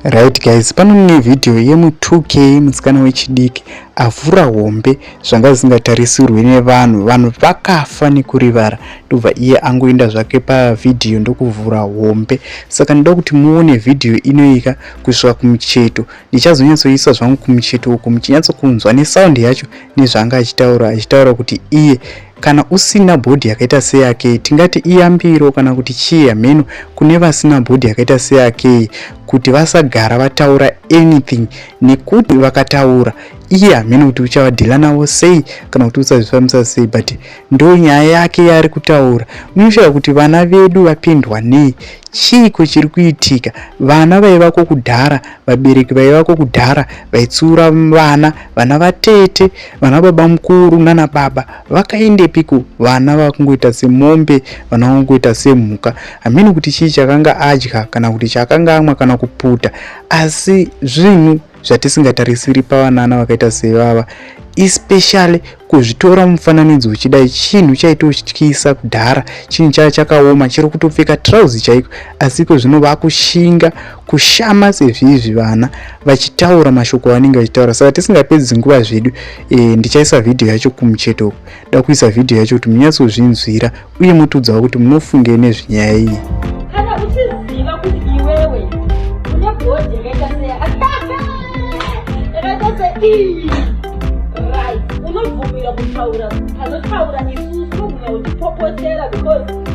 right guys pano mune vhidhiyo yemu 2k musikana wechidiki avhura hombe zvanga zvisingatarisirwe nevanhu vanhu vakafa nekurivara ndobva iye angoenda zvake pavhidhiyo ndokuvhura hombe saka ndoda kuti muone vhidhiyo inoika kusvika kumucheto ndichazonyatsoisa zvangu kumucheto uku muchinyatsokunzwa nesaundi yacho nezvaanga achitaura achitaura kuti iye Kana usina bhodhi yakaita seyake tingati iyambiro kana kuti chii hameno kune vasina bhodhi yakaita seyake kuti vasagara vataura anything nekuti vakataura iye hameno kuti uchavadhila navo sei kana kuti usazvifambisa sei but ndo nyaya yake yaari kutaura munoshaya kuti vana vedu vapindwa nei chiiko chiri kuitika vana vaivako kudhara vabereki vaivako kudhara vaitsiura vana vana vatete vana baba mukuru nana baba vakaendepiko vana vakungoita semombe vana vakungoita semhuka hamene kuti chii chakanga adya kana kuti chaakanga amwa kana kuputa asi zvinhu zvatisingatarisiri pavanana vakaita sevava especially kuzvitora mufananidzo uchidai chinhu chaitotyisa kudhara chinhu chaya chakaoma chiri kutopfeka trousi chaiko asi iko zvino vakushinga kushama sezvizvi vana vachitaura mashoko avanenge vachitaura saka tisingapedzi nguva zvedu e, ndichaisa vhidhiyo yacho kumucheto uku da kuisa vhidhiyo yacho kuti munyatsozvinzwira uye motudzawo kuti munofungei nezvenyaya iyi unobvumira kutaura panotaura isusu unogumira uchipopotera because